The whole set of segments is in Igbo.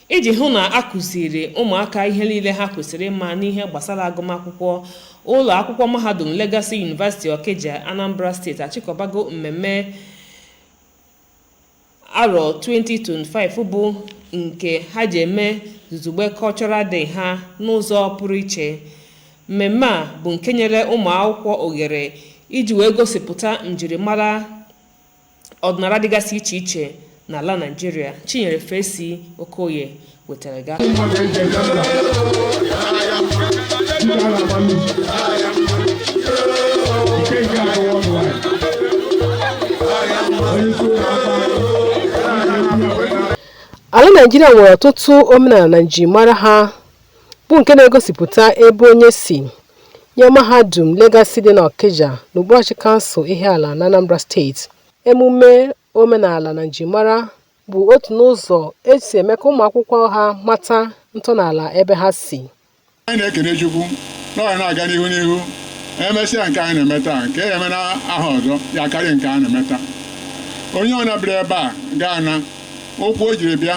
iji hụ na a kụziri ụmụaka ihe niile ha kwesịrị ịma n'ihe gbasara agụmakwụkwọ ụlọ akwụkwọ mahadum Legacy University Okija Anambra steeti achịkọbago mmemme arọ 2025 bụ nke ha ji eme Zuzugbe Cultural Day ha n'ụzọ pụrụ iche mmemme a bụ nke nyere ụmụ akwụkwọ ohere iji wee gosipụta njirimara ọdịnala dịgasị iche iche n'ala Naịjirịa Chinyere Fesi Okoye wetara ga ala Naịjirịa nwere ọtụtụ omenala na njirimara ha bụ nke na-egosipụta ebe onye si nye mahadum Legacy dị n'Ọkịja n'okpuruọchị kansụl Ihiala n'Anambra steeti. Emume omenala na njimara bụ otu n'ụzọ e si eme ka ụmụakwụkwọ ha mata ntọala ebe ha si. Anyị na-ekene Chukwu na ọ ga na-aga n'ihu n'ihu emesịa nke anyị na-eme taa nke a ya-eme na ahọ ọzọ ya karịa nke a na-eme taa onye ọna bịara ebe a ga-ana ụkwụ o jiri bịa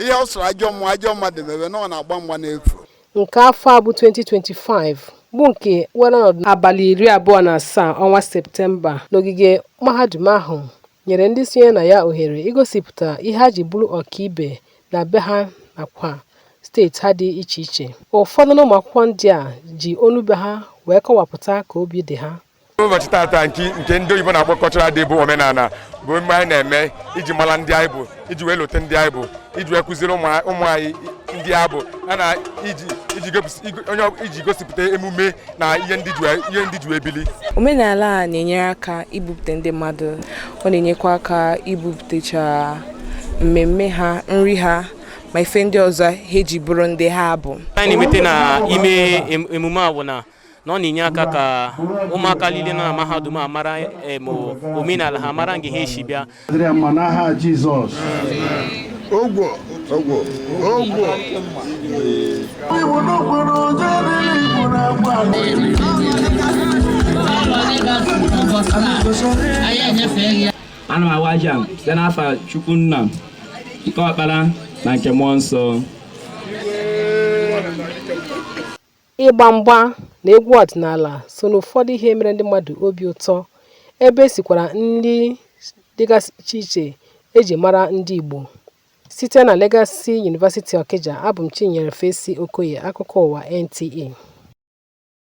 ihe ọ sọrọ ajọ mmụọ ajọ mmadụ mebe na ọ na-agba mgba n'efu nke afọ a bụ 2025 bụ nke were ọnọdụ abalị iri abụọ na asaa ọnwa septemba n'ogige mahadum ahụ nyere ndị sonye na ya ohere igosipụta ihe ha ji bụrụ ọkaibe na be ha nakwa steeti ha dị iche iche ụfọdụ n'ụmụakwụkwọ ndị a ji olu be ha wee kọwapụta ka obi dị ha ụbọchị tata nke ndị oyibo na-akpọ cultural day bụ omenala bụ mgbe anyị na-eme iji mara ndị anyị bụ iji wee lote ndị anyị bụ iji wee kụziri ụmụ anyị ndị ha bụ na iji gosipụta emume na ihe ndị ji ebili omenala a na-enyere aka ibupụta ndị mmadụ ọ na-enyekwa aka ibupụtacha mmemme ha nri ha ma ife ndị ọzọ ha eji bụrụ ndị ha bụ na-emete na ime emume a bụ na na ọ na-enye aka ka ụmụaka niile nọ na mahadum a mara em, omenala ha mara nga ha si bịa dịrị ya mma n'aha Jizọs Ogwo. Ogwo. Ogwo. ana m awa ji a site n'afa Chukwu Nna nke ọkpara na nke mmụọ nsọ Ịgba mgba na egwu ọdịnala so n'ụfọdụ ihe mere ndị mmadụ obi ụtọ, ebe e sikwara nri dịgasị iche iche e ji mara ndị Igbo. Site na Legacy University Okija, abụ m Chinyere Fesi Okoye, akụkọ ụwa NTA.